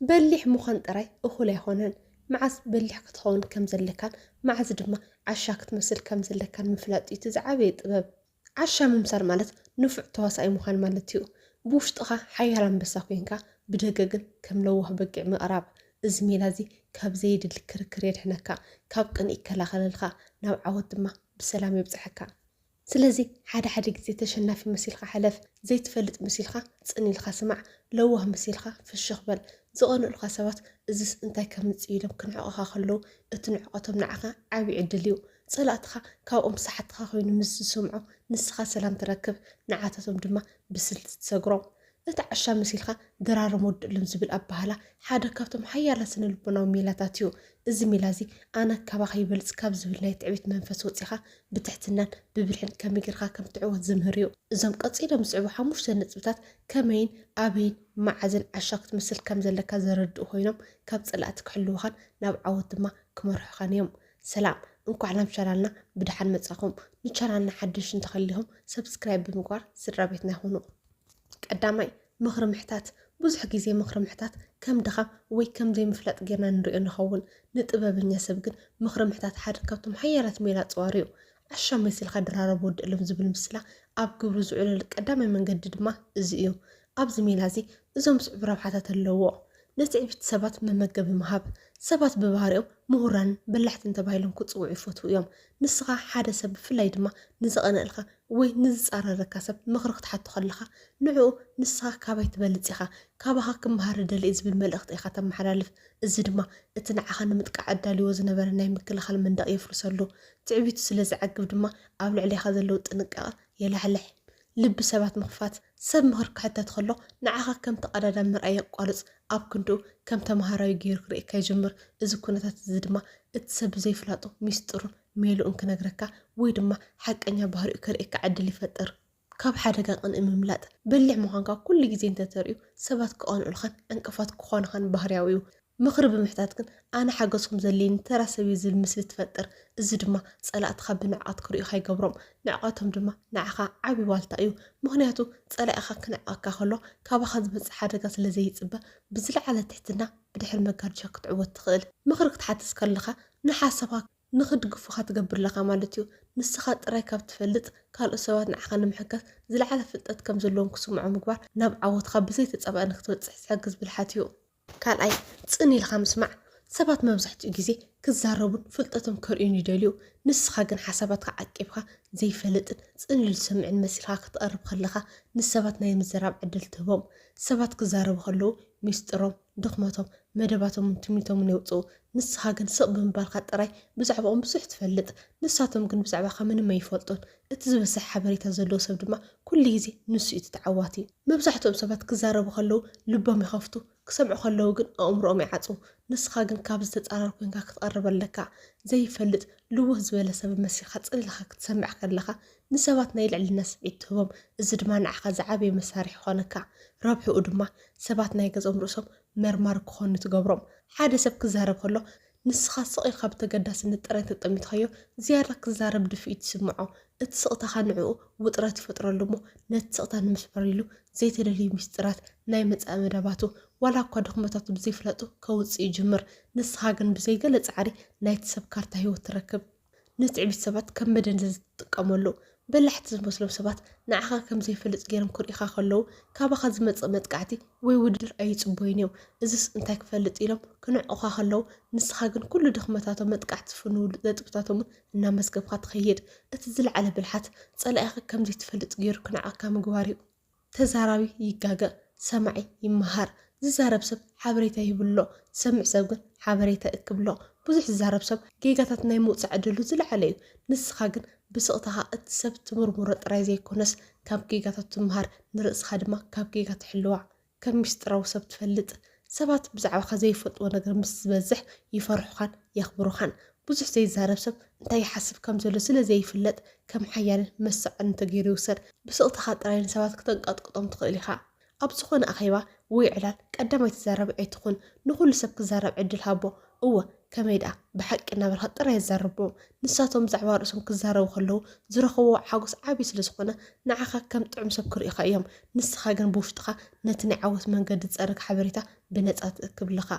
በሊሕ ምዃን ጥራይ እኹል ኣይኮነን፣ መዓስ በሊሕ ክትኸውን ከም ዘለካን መዓስ ድማ ዓሻ ክትመስል ከም ዘለካን ምፍላጥ እዩ እቲ ዝዓበየ ጥበብ። ዓሻ ምምሳል ማለት ንፉዕ ተዋሳኣይ ምዃን ማለት እዩ፣ ብውሽጥኻ ሓያል ኣንበሳ ኮይንካ ብደገ ግን ከም ለዋህ በጊዕ ምቕራብ። እዚ ሜላ እዚ ካብ ዘየድሊ ክርክር የድሕነካ፣ ካብ ቅንኢ ይከላኸለልካ፣ ናብ ዓወት ድማ ብሰላም የብጽሓካ። ስለዚ ሓደ ሓደ ግዜ ተሸናፊ መሲልካ ሕለፍ፣ ዘይትፈልጥ መሲልካ ጽን ኢልካ ስማዕ፣ ለዋህ መሲልካ ፍሽኽ በል። ዝቐንኡልካ ሰባት እዝስ እንታይ ከምጽእ ኢሎም ክንዕቑኻ ከለዉ እቲ ንዕቐቶም ንዓኻ ዓቢ ዕድል እዩ። ጸላእትኻ ካብኦም ሳሓትኻ ኮይኑ ምስ ዝሰምዑ ንስኻ ሰላም ትረክብ፣ ንዓታቶም ድማ ብስልቲ ትሰግሮም። እቲ ዓሻ መሲልካ ድራርም ወድእሉን ዝብል ኣበሃህላ ሓደ ካብቶም ሓያላት ስነ-ልቦናዊ ሜላታት እዩ። እዚ ሜላ እዚ ኣነ ካባኻ ይበልጽ ካብ ዝብል ናይ ትዕቢት መንፈስ ወጺኻ ብትሕትናን ብብልሕን ከመይ ጌርካ ከም ትዕወት ዝምህር እዩ። እዞም ቀጺሎም ዝስዕቡ ሓሙሽተ ነጥብታት ከመይን ኣበይን መዓዝን ዓሻ ክትመስል ከም ዘለካ ዘረድኡ ኮይኖም ካብ ጸላእቲ ክሕልዉኻን ናብ ዓወት ድማ ክመርሑኻን እዮም። ሰላም እንኳዕ ናብ ቻናልና ብድሓን መጻኹም ንቻናልና ሓደሽ እንተኸሊኹም ሰብስክራይብ ብምግባር ስድራ ቤትና ይኹኑ። ቀዳማይ፣ ምኽሪ ምሕታት። ብዙሕ ግዜ ምኽሪ ምሕታት ከም ድኻም ወይ ከም ዘይምፍላጥ ጌርና ንርእዮ ንኸውን። ንጥበበኛ ሰብ ግን ምኽሪ ምሕታት ሓደ ካብቶም ሓያላት ሜላ ኣጽዋሩ እዩ። ዓሻ መሲልካ ድራረብ ወዲ እልም ዝብል ምስላ ኣብ ግብሪ ዝውዕለሉ ቀዳማይ መንገዲ ድማ እዚ እዩ። ኣብዚ ሜላ እዚ እዞም ዝስዕቡ ረብሓታት ኣለዉዎ። ንትዕቢት ሰባት መመገቢ ምሃብ። ሰባት ብባህሪኦም ምሁራንን በላሕትን ተባሂሎም ክጽውዑ ይፈትዉ እዮም። ንስኻ ሓደ ሰብ ብፍላይ ድማ ንዝቐንኣልካ ወይ ንዝጻረረካ ሰብ ምኽሪ ክትሓቶ ከለኻ ንዕኡ ንስኻ ካባይ ትበልጽ ኢኻ፣ ካባኻ ክመሃር እደሊ እየ ዝብል መልእኽቲ ኢኻ ተመሓላልፍ። እዚ ድማ እቲ ንዓኻ ንምጥቃዕ ኣዳልዩዎ ዝነበረ ናይ ምክልኻል መንደቕ የፍርሰሉ። ትዕቢቱ ስለ ዝዓግብ ድማ ኣብ ልዕሌኻ ዘለዎ ጥንቃቐ የላሕልሕ። ልቢ ሰባት ምኽፋት፣ ሰብ ምኽሪ ክሕተት ከሎ ንዓኻ ከም ተቐዳዳሚ ምርኣይ የቋርጽ፣ ኣብ ክንድኡ ከም ተመሃራዩ ገይሩ ክርእየካ ይጅምር፣ እዚ ኩነታት እዚ ድማ እቲ ሰብ ብዘይፍላጡ ሚስጥሩን ሜልኡን ክነግረካ ወይ ድማ ሓቀኛ ባህሪኡ ከርእየካ ዕድል ይፈጥር። ካብ ሓደጋ ቅንኢ ምምላጥ፣ በሊሕ ምዃንካ ኩሉ ግዜ እንተተርእዩ ሰባት ክቐንኡልኻን ዕንቅፋት ክኾኑኻን ባህርያዊ'ዩ። ምኽሪ ብምሕታት ግን ኣነ ሓገዝኩም ዘድልየኒ ተራ ሰብ እየ ዝብል ምስሊ ትፈጥር። እዚ ድማ ጸላእትኻ ብንዕቀት ክርእዩኻ ይገብሮም። ንዕቀቶም ድማ ንዓኻ ዓቢ ዋልታ እዩ። ምኽንያቱ ጸላኢኻ ክንዕቀካ ከሎ ካባኻ ዝበጽሕ ሓደጋ ስለ ዘይጽበ ብዝለዓለ ትሕትና ብድሕሪ መጋረጃ ክትዕወት ትኽእል። ምኽሪ ክትሓትት ከለኻ ንሓሳብካ ንኽድግፉኻ ትገብር ኣለኻ ማለት እዩ። ንስኻ ጥራይ ካብ ትፈልጥ ካልኦት ሰባት ንዓኻ ንምሕጋዝ ዝለዓለ ፍልጠት ከም ዘለዎም ክስምዖም ምግባር ናብ ዓወትካ ብዘይተጻባኢ ንክትበጽሕ ዝሕግዝ ብልሓት እዩ። ካልኣይ፣ ጽን ኢልካ ምስማዕ፣ ሰባት መብዛሕትኡ ግዜ ክዛረቡን ፍልጠቶም ከርእዩን ይደልዩ፣ ንስኻ ግን ሓሳባትካ ዓቂብካ ዘይፈልጥን ጽን ኢሉ ዝሰምዕን መሲልካ ክትቐርብ ከለኻ ንሰባት ናይ ምዝራብ ዕድል ትህቦም። ሰባት ክዛረቡ ከለዉ ሚስጥሮም፣ ድኽመቶም፣ መደባቶምን ትምኒቶምን የውጽኡ፣ ንስኻ ግን ስቕ ብምባልካ ጥራይ ብዛዕባኦም ብዙሕ ትፈልጥ፣ ንሳቶም ግን ብዛዕባኻ ምንም ኣይፈልጡን። እቲ ዝበሰሐ ሓበሬታ ዘለዎ ሰብ ድማ ኩሉ ግዜ ንሱ እዩ እቲ ተዓዋቲ። መብዛሕትኦም ሰባት ክዛረቡ ከለዉ ልቦም ይኸፍቱ፣ ክሰምዑ ከለዉ ግን ኣእምሮኦም ይዓጽዉ። ንስኻ ግን ካብዚ ተጻራሪ ኮንካ ክትቐርብ ኣለካ። ዘይፈልጥ ልውህ ዝበለ ሰብ መሲልካ ጽን ኢልካ ክትሰምዕ ከለኻ ንሰባት ናይ ልዕልና ስምዒት ትህቦም፣ እዚ ድማ ንዓኻ ዝዓበየ መሳርሒ ይኾነካ። ረብሕኡ ድማ ሰባት ናይ ገዝኦም ርእሶም መርማሪ ክኾኑ ትገብሮም። ሓደ ሰብ ክዛረብ ከሎ ንስኻ ስቕ ኢልካ ብተገዳስነት ጥራይ እንተጠሚትካዮ፣ ዝያዳ ክዛረብ ድፍኢት ይስምዖ። እቲ ስቕታኻ ንዕኡ ውጥረት ይፈጥረሉ እሞ፣ ነቲ ስቕታ ንምስባር ኢሉ ዘይተደልዩ ምስጢራት ናይ መጻኢ መደባቱ፣ ዋላ እኳ ድኽመታቱ ብዘይፍላጡ ከውጽእ ይጅምር። ንስኻ ግን ብዘይ ገለ ጻዕሪ ናይቲ ሰብ ካርታ ህይወት ትረክብ። ንትዕቢት ሰባት ከም መደንዘዚ ትጥቀመሉ። በላሕቲ ዝመስሎም ሰባት ንዓኻ ከም ዘይፈልጥ ገይሮም ክርእዩኻ ከለዉ፣ ካባኻ ዝመጽእ መጥቃዕቲ ወይ ውድድር ኣይጽበዩን እዮም። እዝስ እንታይ ክፈልጥ ኢሎም ክንዕቑኻ ከለዉ፣ ንስኻ ግን ኩሉ ድኽመታቶም፣ መጥቃዕቲ ዝፍንውሉ ነጥብታቶምን እናመዝገብካ ትኸይድ። እቲ ዝለዓለ ብልሓት፣ ጸላኢኻ ከም ዘይትፈልጥ ገይሩ ክንዕቕካ ምግባር እዩ። ተዛራቢ ይጋገ ሰማዒ ይመሃር ዝዛረብ ሰብ ሓበሬታ ይህብሎ ዝሰምዕ ሰብ ግን ሓበሬታ እክብሎ ብዙሕ ዝዛረብ ሰብ ጌጋታት ናይ ምውጻእ ዕድሉ ዝለዓለ እዩ ንስካ ግን ብስቅታካ እቲ ሰብ ትምርምሮ ጥራይ ዘይኮነስ ካብ ጌጋታቱ ትመሃር ንርእስካ ድማ ካብ ጌጋ ትሕልዋ ከም ሚስጥራዊ ሰብ ትፈልጥ ሰባት ብዛዕባኻ ዘይፈልጥዎ ነገር ምስ ዝበዝሕ ይፈርሑኻን የኽብሩኻን። ብዙሕ ዘይዛረብ ሰብ እንታይ ይሓስብ ከም ዘሎ ስለ ዘይፍለጥ ከም ሓያልን መሳቕን ተገይሩ ይውሰድ። ብስቕታኻ ጥራይ ንሰባት ክተንቀጥቅጦም ትኽእል ኢኻ። ኣብ ዝኾነ ኣኼባ ወይ ዕላል ቀዳማይ ተዛራቢ ኣይትኹን። ንኹሉ ሰብ ክዛረብ ዕድል ሃቦ። እወ ከመይ ደኣ ብሓቂ እናበልካ ጥራይ ኣዛርቦም። ንሳቶም ብዛዕባ ርእሶም ክዛረቡ ከለዉ ዝረኽብዎ ሓጎስ ዓቢ ስለ ዝኾነ ንዓኻ ከም ጥዑም ሰብ ክርእዩኻ እዮም። ንስኻ ግን ብውሽጥኻ ነቲ ናይ ዓወት መንገዲ ዝጸርግ ሓበሬታ ብነጻ ትእክብ ኣለኻ።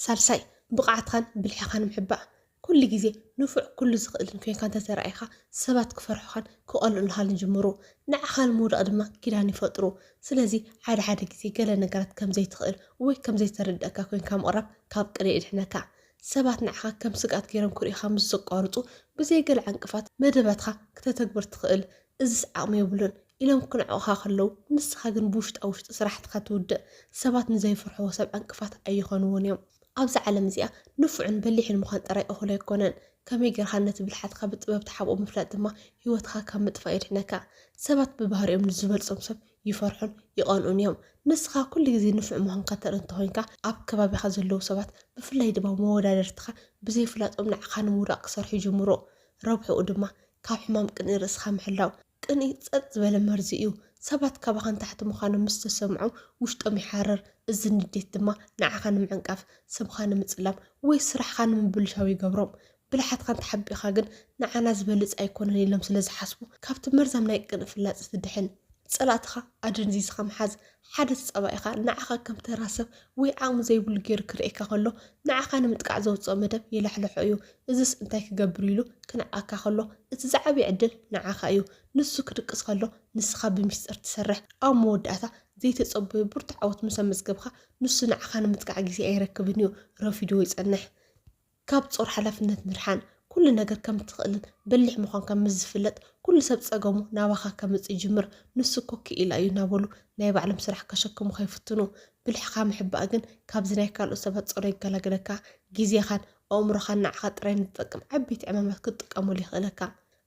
ሳልሳይ፣ ብቕዓትካን ብልሕኻን ምሕባእ። ኩሉ ግዜ ንፉዕ ኩሉ ዝኽእልን ኮይንካ እንተ ተራእኻ ሰባት ክፈርሑኻን ክቐንኡልኻን ይጅምሩ። ንዓኻ ንምውዳቕ ድማ ኪዳን ይፈጥሩ። ስለዚ ሓደ ሓደ ግዜ ገለ ነገራት ከም ዘይትኽእል ወይ ከም ዘይተረድኣካ ኮይንካ ምቕራብ ካብ ቅንኢ የድሕነካ። ሰባት ንዓኻ ከም ስግኣት ገይሮም ክርእዩኻ ምስ ዘቋርጹ፣ ብዘይ ገለ ዕንቅፋት መደባትካ ክተተግብር ትኽእል፣ እዝስ ዓቕሚ የብሉን ኢሎም ክንዕቑኻ ከለዉ፣ ንስኻ ግን ብውሽጣ ውሽጢ ስራሕትኻ ትውድእ። ሰባት ንዘይፍርሕዎ ሰብ ዕንቅፋት ኣይኾንዎን እዮም። ኣብዛ ዓለም እዚኣ ንፉዕን በሊሕን ምዃን ጥራይ እኹል ኣይኮነን፣ ከመይ ገይርካ ነቲ ብልሓትካ ብጥበብ ትሓብኦ ምፍላጥ ድማ ህይወትኻ ካብ ምጥፋእ የድሕነካ። ሰባት ብባህሪኦም ንዝበልጾም ሰብ ይፈርሑን ይቐንኡን እዮም። ንስኻ ኩሉ ግዜ ንፉዕ ምዃንካ ተርኢ እንተኾይንካ፣ ኣብ ከባቢኻ ዘለዉ ሰባት ብፍላይ ድማ መወዳድርትኻ ብዘይፍላጦም ንዓኻ ንምውዳቕ ክሰርሑ ይጅምሩ። ረብሕኡ ድማ ካብ ሕማም ቅንኢ ርእስኻ ምሕላው። ቅንኢ ጸጥ ዝበለ መርዚ እዩ። ሰባት ካባኻ ንታሕቲ ምዃኖም ምስ ተሰምዖም ውሽጦም ይሓርር፣ እዚ ንዴት ድማ ንዓኻ ንምዕንቃፍ፣ ስምካ ንምጽላም ወይ ስራሕኻ ንምብልሻው ይገብሮም። ብልሓትካን ተሓቢእኻ ግን ንዓና ዝበልጽ ኣይኮነን ኢሎም ስለ ዝሓስቡ ካብቲ መርዛም ናይ ቅንኢ ፍላጸ ትድሕን። ጸላእትኻ ኣደንዚዝካ ምሓዝ ሓደ ተጻባኢኻ ንዓኻ ከም ተራ ሰብ ወይ ዓቕሚ ዘይብሉ ጌሩ ክርእየካ ከሎ ንዓኻ ንምጥቃዕ ዘውጽኦ መደብ የላሕልሖ እዩ። እዝስ እንታይ ክገብር ኢሉ ክንዕቀካ ከሎ እቲ ዝዓበየ ዕድል ንዓኻ እዩ። ንሱ ክድቅስ ከሎ ንስኻ ብሚስጥር ትሰርሕ። ኣብ መወዳእታ ዘይተጸበዮ ብርቱዕ ዓወት ምስ ኣመዝገብካ ንሱ ንዓኻ ንምጥቃዕ ግዜ ኣይረክብን እዩ። ረፊዱ ይጸንሕ። ካብ ጾር ሓላፍነት ምድሓን ኩሉ ነገር ከም እትኽእልን በሊሕ ምዃንካን ምስ ዝፍለጥ ኩሉ ሰብ ጸገሙ ናባኻ ከምጽእ ይጅምር። ንሱ እኮ ክኢላ እዩ እናበሉ ናይ ባዕሎም ስራሕ ከሸክሙኻ ይፍትኑ። ብልሕኻ ምሕባእ ግን ካብዚ ናይ ካልኦት ሰባት ጾር የገላግለካ። ግዜኻን ኣእምሮኻን ንዓኻ ጥራይ ንዝጠቅም ዓበይቲ ዕማማት ክትጥቀመሉ የኽእለካ።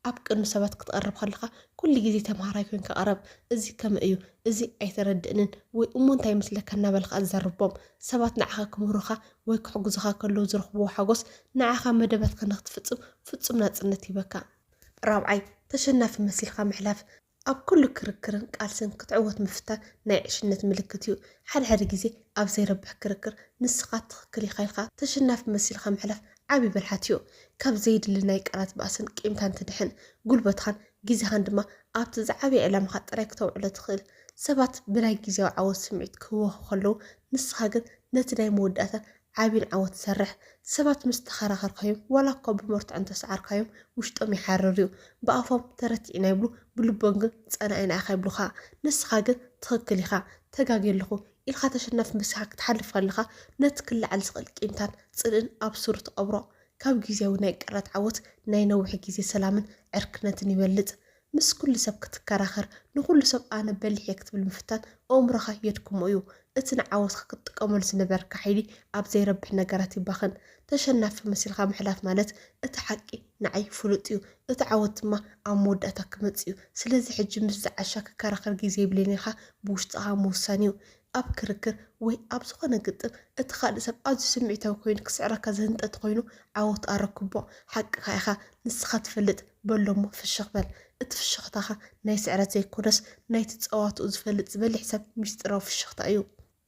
ኣብ ቅድሚ ሰባት ክትቐርብ ከለኻ ኩሉ ግዜ ተምሃራይ ኮይንካ ቅረብ፣ እዚ ከምይ እዩ፣ እዚ ኣይተረድእንን ወይ እሞ እንታይ ይመስለካ እናበልካ ኣዘርቦም። ሰባት ንዓኻ ክምህሩኻ ወይ ክሕግዙኻ ከለዉ ዝረኽብዎ ሓጎስ ንዓኻ መደባትካ ንኽትፍጽም ፍጹም ናጽነት ይህበካ። ራብዓይ፣ ተሸናፊ መሲልካ ምሕላፍ። ኣብ ኩሉ ክርክርን ቃልስን ክትዕወት ምፍታን ናይ ዕሽነት ምልክት እዩ። ሓደ ሓደ ግዜ ኣብ ዘይረብሕ ክርክር ንስኻ ትኽክል ኢኻ ኢልካ ተሸናፊ መሲልካ ምሕላፍ ዓቢ ብልሓት እዩ። ካብ ዘየድሊ ናይ ቃላት ባእስን ቂምታን ትድሕን። ጉልበትኻን ግዜኻን ድማ ኣብቲ ዝዓበየ ዕላማኻ ጥራይ ክተውዕሎ ትኽእል። ሰባት ብናይ ግዝያዊ ዓወት ስምዒት ክህወኹ ከለዉ ንስኻ ግን ነቲ ናይ መወዳእታን ዓቢን ዓወት ሰርሕ። ሰባት ምስ ተኸራኸርካዮም ዋላ እኳ ብመርትዖ እንተሰዓርካዮም ውሽጦም ይሓርር እዩ። ብኣፎም ተረቲዕና ይብሉ ብልቦም ግን ጸላኢና ኢኻ ይብሉኻ። ንስኻ ግን ትኽክል ኢኻ ተጋግየ ኣለኹ ኢልካ ተሸናፊ መሲልካ ክትሓልፍ ከለኻ ነቲ ክለዓል ዝኽእል ቂምታን ጽልእን ኣብ ሱሩ ትቐብሮ። ካብ ግዝያዊ ናይ ቅርነት ዓወት ናይ ነዊሕ ግዜ ሰላምን ዕርክነትን ይበልጽ። ምስ ኩሉ ሰብ ክትከራኸር፣ ንኹሉ ሰብ ኣነ በሊሕ እየ ክትብል ምፍታን ኣእምሮኻ የድክሞ እዩ። እቲ ንዓወትካ ክትጥቀመሉ ዝነበርካ ሓይሊ ኣብ ዘይረብሕ ነገራት ይባኸን። ተሸናፊ መሲልካ ምሕላፍ ማለት እቲ ሓቂ ንዓይ ፍሉጥ እዩ፣ እቲ ዓወት ድማ ኣብ መወዳእታ ክመጽእ እዩ፣ ስለዚ ሕጂ ምስዚ ዓሻ ክከራኸር ግዜ የብለይን ኢልካ ብውሽጥኻ ምውሳን እዩ። ኣብ ክርክር ወይ ኣብ ዝኾነ ግጥም እቲ ካልእ ሰብ ኣዝዩ ስምዒታዊ ኮይኑ ክስዕረካ ዝህንጠ እንተኾይኑ ዓወት ኣረክቦ። ሓቅኻ ኢኻ ንስኻ ትፈልጥ በሎ እሞ ፍሽኽ በል። እቲ ፍሽኽታኻ ናይ ስዕረት ዘይኮነስ ናይቲ ጸዋትኡ ዝፈልጥ ዝበሊሕ ሰብ ሚስጢራዊ ፍሽኽታ እዩ።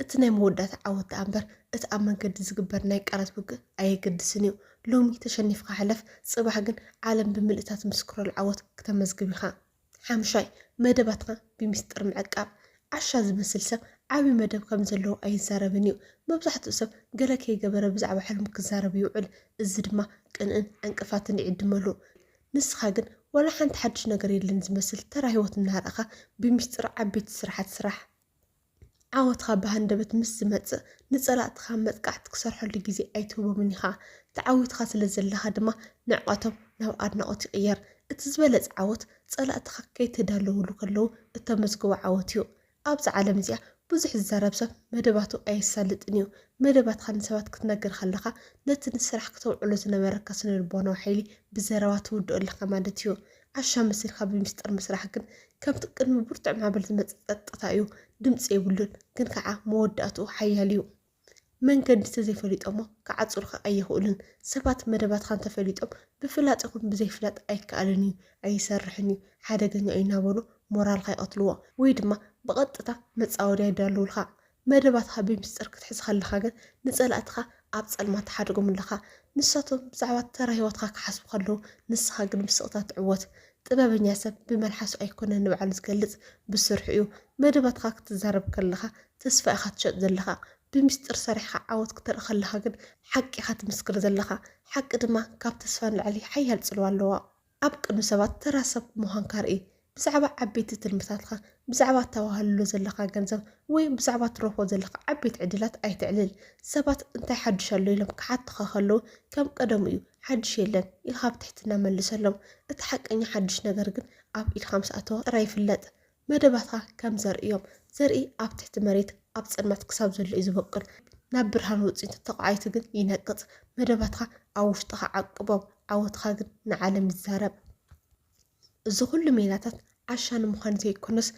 እቲ ናይ መወዳእታ ዓወት ደኣ እምበር እቲ ኣብ መንገዲ ዝግበር ናይ ቃላት ውግእ ኣየገድስን እዩ። ሎሚ ተሸኒፍካ ሕለፍ፣ ጽባሕ ግን ዓለም ብምልእታ ትምስክረሉ ዓወት ክተመዝግብ ኢኻ። ሓምሻይ፣ መደባትና ብሚስጥር ምዕቃብ። ዓሻ ዝመስል ሰብ ዓቢ መደብ ከም ዘለዎ ኣይዛረብን እዩ። መብዛሕትኡ ሰብ ገለ ከይገበረ ብዛዕባ ሕልሙ ክዛረብ ይውዕል፣ እዚ ድማ ቅንእን ዕንቅፋትን ይዕድመሉ። ንስኻ ግን ዋላ ሓንቲ ሓድሽ ነገር የለን ዝመስል ተራ ህይወት እናርኣኻ ብሚስጥር ዓበይቲ ስራሓት ስራሕ። ዓወትካ ብሃንደበት ምስ ዝመጽእ ንጸላእትካ መጥቃዕቲ ክሰርሐሉ ግዜ ኣይትህቦምን ኢኻ። ተዓዊትካ ስለ ዘለኻ ድማ ንዕቀቶም ናብ ኣድናቖት ይቕየር። እቲ ዝበለጸ ዓወት ጸላእትካ ከይተዳለዉሉ ከለዉ እተመዝግቦ ዓወት እዩ። ኣብዛ ዓለም እዚኣ ብዙሕ ዝዛረብ ሰብ መደባቱ ኣየሳልጥን እዩ። መደባትካ ንሰባት ክትነግር ከለኻ ነቲ ንስራሕ ክተውዕሎ ዝነበረካ ስነልቦናዊ ሓይሊ ብዘረባ ትውድኦ ኣለኻ ማለት እዩ። ዓሻ መሲልካ ብሚስጥር ምስራሕ ግን ከምቲ ቅድሚ ብርቱዕ ማዕበል ዝመጽእ ጸጥታ እዩ፣ ድምጺ የብሉን፣ ግን ከኣ መወዳእትኡ ሓያል እዩ። መንገዲ ተዘይፈሊጦሞ ክዓጹርካ ኣይኽእሉን። ሰባት መደባትካ እንተፈሊጦም ብፍላጥ ይኹን ብዘይፍላጥ ኣይከኣልን እዩ፣ ኣይሰርሕን እዩ፣ ሓደገኛ እዩ እናበሉ ሞራልካ ይቐትልዎ ወይ ድማ ብቐጥታ መጻወድያ ይዳልዉልካ። መደባትካ ብሚስጥር ክትሕዝ ከለካ ግን ንጸላእትካ ኣብ ጸልማት ትሓድጎም ኣለካ። ንሳቶም ብዛዕባ ተራ ህይወትካ ክሓስቡ ከለዉ ንስካ ግን ብስቅታ ትዕወት። ጥበበኛ ሰብ ብመልሓሱ ኣይኮነን ንባዕሉ ዝገልጽ ብስርሑ እዩ። መደባትካ ክትዛረብ ከለካ ተስፋ ኢካ ትሸጥ ዘለካ። ብሚስጥር ሰሪሕካ ዓወት ክተርኢ ከለካ ግን ሓቂ ኢካ ትምስክር ዘለካ። ሓቂ ድማ ካብ ተስፋ ንላዕሊ ሓያል ጽልዋ ኣለዋ። ኣብ ቅድሚ ሰባት ተራ ሰብ ምዃንካ ርኢ። ብዛዕባ ዓበይቲ ትልምታትካ፣ ብዛዕባ እተዋህልሎ ዘለኻ ገንዘብ፣ ወይ ብዛዕባ እትረኽቦ ዘለኻ ዓበይቲ ዕድላት ኣይተዕልል። ሰባት እንታይ ሓድሽ ኣሎ ኢሎም ክሓቱኻ ከለዉ፣ ከም ቀደሙ እዩ፣ ሓድሽ የለን፣ ኢልካ ብትሕትና መልሰሎም። እቲ ሓቀኛ ሓድሽ ነገር ግን ኣብ ኢድካ ምስ ኣተወ ጥራይ ይፍለጥ። መደባትካ ከም ዘርኢ እዮም። ዘርኢ ኣብ ትሕቲ መሬት ኣብ ጽልመት ክሳብ ዘሎ እዩ ዝበቁል። ናብ ብርሃን ወጺኡ እንተተቋዒቱ ግን ይነቅጽ። መደባትካ ኣብ ውሽጥኻ ዓቅቦም፣ ዓወትካ ግን ንዓለም ይዛረብ። እዚ ኩሉ ሜላታት ዓሻ ንምዃን ዘይኮነስ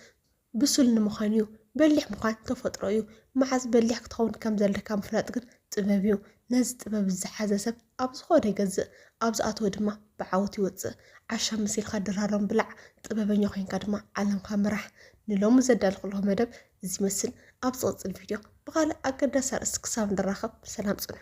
ብሱል ንምዃን እዩ። በሊሕ ምዃን ተፈጥሮ እዩ። መዓዝ በሊሕ ክትኸውን ከም ዘለካ ምፍላጥ ግን ጥበብ እዩ። ነዚ ጥበብ ዝሓዘ ሰብ ኣብ ዝኾነ ይገዝእ ኣብ ዝኣተወ ድማ ብዓወት ይወፅእ። ዓሻ መሲልካ ድራሮም ብላዕ፣ ጥበበኛ ኮይንካ ድማ ዓለምካ ምራሕ። ንሎሚ ዘዳለኹልኹም መደብ እዚ ይመስል። ኣብ ዝቕፅል ቪድዮ ብኻልእ ኣገዳሲ ኣርእስቲ ክሳብ ንራኸብ ሰላም ፅንሑ።